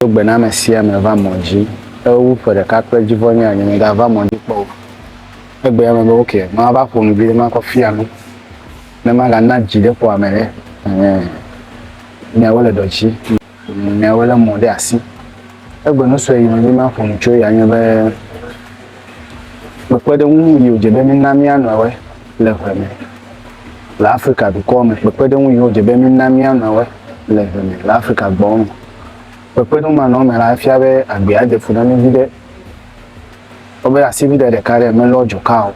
Do gbe na ame sia ame va mɔ dzi. Ewu ƒe ɖeka kple dzivɔ nye anyi megava mɔ dzi kpɔ o. Egbe ya me be, ok, mava ƒo nu vi ɖe makɔ fia nu. Ne magana dzi ɖe ƒo ame ɖe. Ehe. Nyawo le dɔdzi. Nyawo le mɔ ɖe asi. Egbe nu sue yi me be maƒo nu tso ya nye be Kpekpeɖeŋu nu yi wòdze be mína mía nɔewoe le ŋe me le Afrika dukɔwo me. Kpekpeɖeŋu yi wòdze be mína mía nɔewoe le ŋe me le Afrika gbɔwo me. Kpekpeɖeŋu ma nɔ eme la, efia be agbea de fu na mí viɖe. Kpɔ be asiʋuiɖe ɖeka ɖe melɔ dzoka o.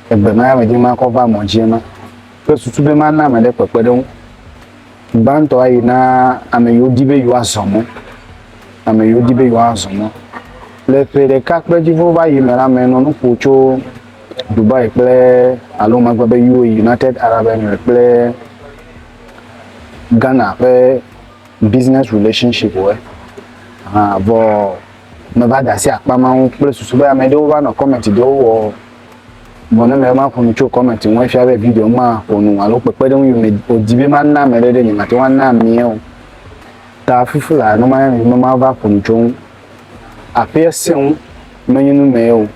Egbe ma ya medi be makɔ va mɔ dzi ema. Kple susu be mana ame aɖe kpekpeɖeŋu. Gbãtɔ ayi na ame yiwo di be yewoazɔ mɔ. Ame yiwo di be yewoazɔ mɔ. Le ƒe ɖeka kple edzi ƒe va yi me la, menɔ nu ƒo tso Dubai kple alo magblɔ be UAE, United Arab Emirates kple Ghana ƒe business relationship wo. Hã vɔ meva de asi akpa ma ŋu kple susu be ame ɖewo va nɔ comment ɖewo wɔ Vɔ ne mele maƒo nu tso kɔmɛti ŋu efia be video ma ƒo nu alo kpekpeɖeŋu yi me wòdi be mana ame ɖe ɖe nyemate ŋu ana amee o. Ta fufu laa ne maya mi be mava ƒo nu tso ŋu. Aƒea sẽ ŋu menye nu mee o.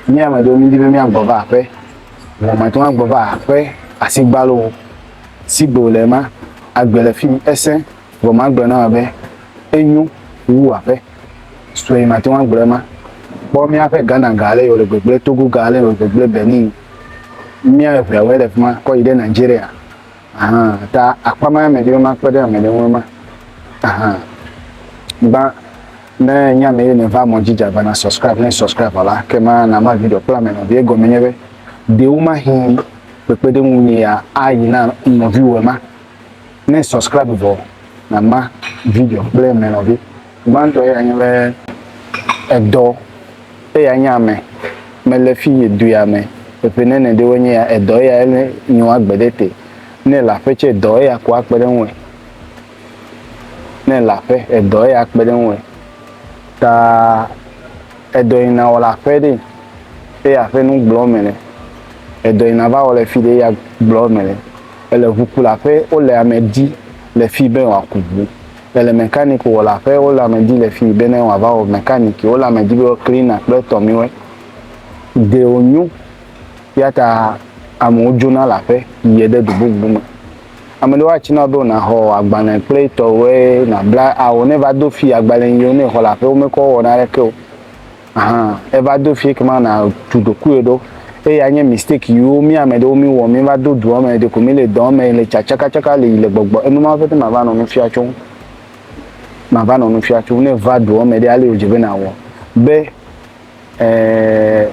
Mí ame aɖewo mídi be míagbɔ va aƒe. Vɔ mate ŋu agbɔ va aƒe asigbalo o. Sigbe wòle ma, agbe le fi mi. Esẽ. Vɔ magblɔ na wò be enyo wu aƒe. sue mate ŋu agblɔ ema. Kpɔ míaƒe Ghana ga ale wòle gbegblẽ, Togo ga ale wòle gbegblẽ, Benin, mía eveawoe le fi ma kɔ yi ɖe Nigeria. Ahan, ta akpa ma ame ɖewo ma kpe ɖe ame ɖewo ma. Ahan. Ba ne nye ame ye neva mɔ dzi dza na subscribe ne subscribe la ke ma na ma video kple ame nɔvi egɔme nye be ɖewo ma hin kpekpeɖeŋu ni ya ayi na nɔviwo ma. Ne subscribe vɔ na ma video kple me nɔvi. Gbãtɔ ya nye be edɔ eya nye ame me le fi ye du ya me eƒe ne ne ɖewo nye ya edɔ eya ele nyo agbe ɖe te. Ne le aƒe tse edɔ eya ko akpe ɖe ŋue. Ne le aƒe edɔ eya akpe ɖe ŋue. Ta edɔ yi na wɔ le aƒe ɖe eya aƒe nu gblɔ me le. Edɔ yi na va wɔ le fi ɖe eya gblɔ me le. Ele ʋukulaƒe, wole ame di le fii be wòaku ʋu. Ele mɛkaniki wɔlaƒe, wole ame di le fii be ne wòava wɔ mɛkaniki. Wole ame di be wɔ klina kple tɔmiwɔɛ. Ɖe wònyo ya ta amewo dzona le aƒe yie ɖe du bubu me. Ame ɖewo atsi na wo be wònaxɔ agbalẽ kple etɔwɔɛ, nàbla ao ne va do fii agbalẽ yi wo ne exɔ le aƒe womekɔ wɔna ɖeke o. Ahan, eva do fie kema na tu ɖokuiwò ɖo. Eye anye mistake yiwo mi ame ɖewo mi wɔ, mi va do dua me, ɖeko mi le dɔ me le tsa tsaka tsaka le yi le gbɔgbɔ. Enu mawo pete ma va nɔ nu fia tso ŋu. Ma va nɔ nu fia tso ŋu. Ne va dua me ɖe ale wò dze be na wɔ. Be, eh,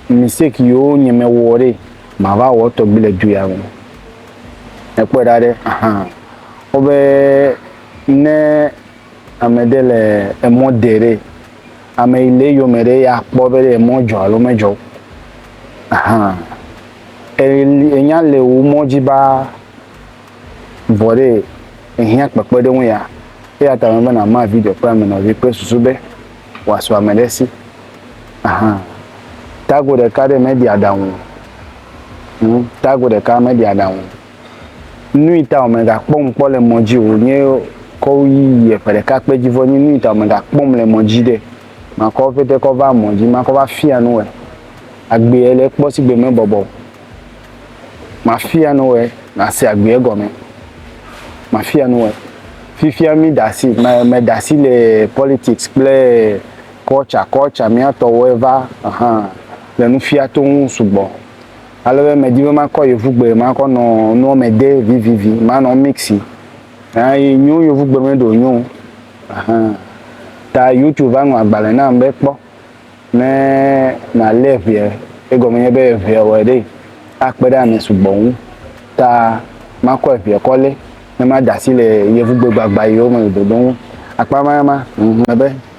mistake yiwo nye me wɔ ɖe, ma va wɔ tɔgbi le du ya me. Ekpɔe ɖa ɖe, ahan. Wo be, ne. Ame ɖe le emɔ de ɖe, ame yi le eyome ɖe ya kpɔ be ɖe emɔ dzɔ alo medzɔ o. Ahan. Eli enya le wo mɔ dzi baa vɔ ɖe ehiã kpekpeɖeŋu ya. Eya ta me be na ma video kple ame nɔvi kple susu be wòasu ame ɖe si. Ahan. Tago ɖeka ɖe meɖi aɖaŋu o. Hm, tago ɖeka meɖi aɖaŋu o. nui ta wòmegakpɔm kpɔ le mɔ dzi o, wònye kɔ yí yiɛ ƒe ɖeka kpe ji vɔ nyi nui ta wòmegakpɔm le mɔ dzi ɖe. Makɔ ƒete kɔ va mɔ dzi, makɔ va fia nu wɛ. Agbeɛ le kpɔ sigbe mebɔbɔ o. Mafia nu wɛ nase agbeɛ gɔnmɛ. Mafia nu wɛ. Fifia mí da si, me, me da si le politics kple culture, culture mía tɔwo eva, ahan, le nu fia toŋ sugbɔ. Ale be medi be makɔ yevugbe makɔ nɔ nua me de vivivi manɔ mixi. Hã yi nyo yevugbe me ɖo nyo. Hã. Ta YouTube va ŋlɔ agbalẽ nam be kpɔ ne malé ʋea egɔme nye be ʋea wɔ ɖe akpe ɖe ame sugbɔ ŋu. Ta makɔ ʋea kɔ lé ne mada asi le yevugbe gbagba yiwo me le dodom akpa ma ma. Ŋu be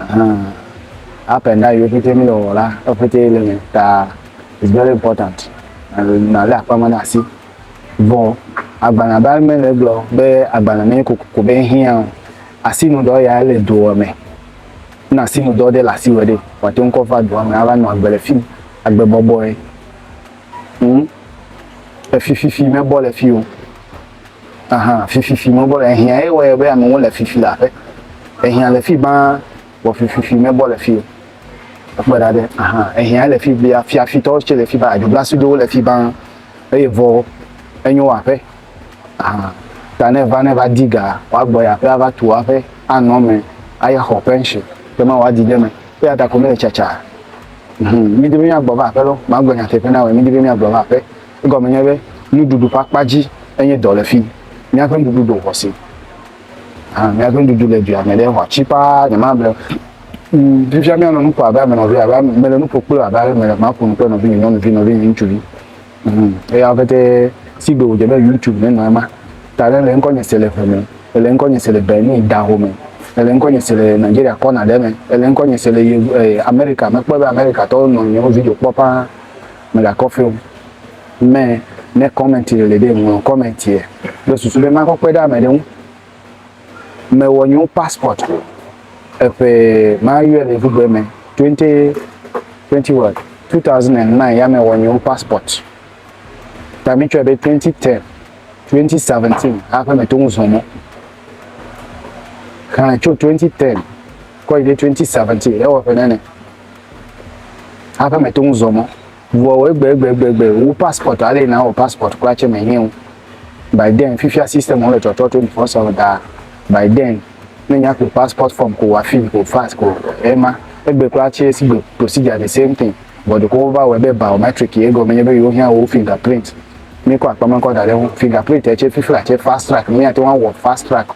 Ahan. Up and down yiwo ƒete mi le wɔwɔ la, eƒete le me ta is very important. Nale akpa ma na asi. Vɔ agbana ba me le gblɔ be agbana me ko ko be hiã asi nu dɔ ya le doa me. Na asi nu dɔ de la asi wɔ de. Wa te ŋkɔ va doa me ava nɔ agbe le fi agbe bɔbɔe. Hm. Efi fifi me bɔ le fi o. Aha, fififi mebɔ le ehiã ye wɔyɔ be amewo le fifi le aƒe. Ehiã le fi baa wɔ fififi mebɔ le fi o. Ekpɔe ɖa ɖe aha ehiã le fi bia fiafitɔwo tse le fi baa dzoblasidowo le fi baa eye vɔ enyo aƒe. Aha ta ne va ne va di ga woagbɔ yi aƒe ava tu aƒe anɔ me aye xɔ pension ke ma woadi ɖe me eya ta ko mele tsatsa. Hum midi be miagbɔ va aƒe lɔ magblɔ nyateƒe na wɔ midi be miagbɔ va aƒe. Egɔme nye be nuɖuɖu ƒe akpa dzi enye dɔ le fi. Míaƒe nuɖuɖu ɖo ŋɔ si. Hã míaƒe nuɖuɖu le dua me ɖe ŋɔ tsi paa nyemable. Mm, fifia míanɔ nu ƒo abe ame nɔvi, abe mele nu ƒo kple abe ale mele ma ƒo nu kple nɔvinye nyɔnuvi, nɔvinye ŋutsuvi. Mm, eya pɛtɛ si gbe wòdze be YouTube ne nɔ ema. Ta ɖe le ŋkɔnye se le ʋe me, ele ŋkɔnye se le Benin daho me, ele ŋkɔnye se le Nigeria kɔna ɖe me, ele ŋkɔnye se le Yevu, eh, Amerika me. Mekpɔe be Amerikatɔwo nɔ nyewo video kpɔ paa. Mègakɔ fewm mɛ ne kɔmɛnti le le ɖe ŋlɔ kɔmɛntiɛ kple susu be makɔ kpe ɖe amɛ ɖe ŋu. Mewɔ nyeo passport eƒe mayɔɛ le ŋugbɛ mɛ 20 20 what 2009 ya mewɔ nyeo passport ta mi tsɔɛ be 2010 2017 aƒe me to ŋu zɔ mɔ xlɛ tso 2010 kɔ yi ɖe 2017 ewɔ ƒe nɛnɛ. Aƒe me to ŋu zɔ mɔ. Vɔwɔ egbeegbeegbe wo passport ale na wɔ passport kura tse me nye wo. By then fifia system wo le trɔtrɔ to nufɔ sɔ da. By then ne nya ko passport form ko wa fill ko fax ko ema egbe kura tse si gbe procedure the same thing. Vɔ ɖeko wo va wɔ ebe biometric ye egɔme nye be yewo hiã wo fingerprint. Mi kɔ akpame kɔ da ɖe ŋu. Fingerprint tse fifia tse fast track mi ate ŋu awɔ fast track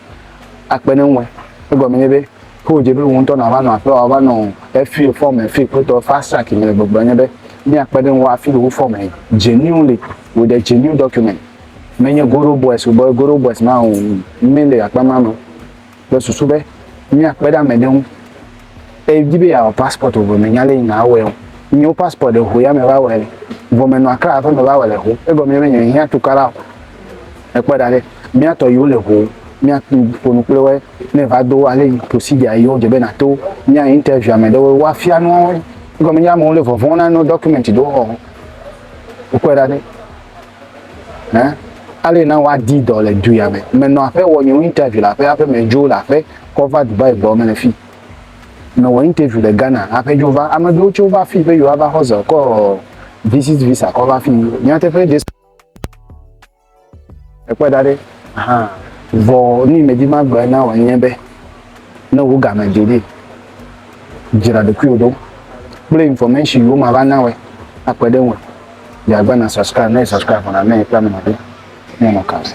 akpe ne ŋue. Egɔme nye be. Ke wòdze be wò ŋutɔ nàva nɔ aƒea wòava nɔ efee fɔ me fee kpɔtɔ fasa ke mele gbɔgblɔ nye be míakpe ɖe ŋuwò afi wò fɔ me genuine le wò de genuine document menye goro boys wò be goro boys ma o míle akpa ma me kple susu be míakpe ɖe ame ɖe ŋu edi be yeawɔ passport wò vɔ mènya le yi na awɔe o nye wò passport ɖe ho ya me va wɔe vɔ menɔ akra aƒe me va wɔ le ho egɔme nye be nye mehiã tukara o ekpɔ ɖa ɖe míatɔ yiwo le ho míaƒo nu kple wɔe Ne va do ale yi procedure yi wodze be nato mía interview ame ɖewo woafia nu wo. Egɔme nye amewo le vɔvɔ̃ na no document ɖewo xɔ wo. Wokpɔe ɖa ɖe. Hã? Ale na woadi dɔ le du ya me. Menɔ aƒe wɔ nye interview le aƒe aƒe me dzo le aƒe kɔ va Dubai gbɔ mele fi. Mewɔ interview le Ghana aƒe dzo va. Ame ɖewo tso va fi be yewoava xɔ zɔ kɔ visit visa kɔ va fi. Nyateƒe Jesu Ekpɔe ɖa ɖe, hã, vɔ nu yi medi magblɔe na wò nye be, ne wò game dze ɖi, dzra ɖokuiwò ɖo kple information yiwo mava na wòe akpe ɖe eŋu. Dze agbagba na subscribe, ne èsubscribe vɔ la, ne èkpɔe amenɔ ɖe, míanɔ kãtɛ.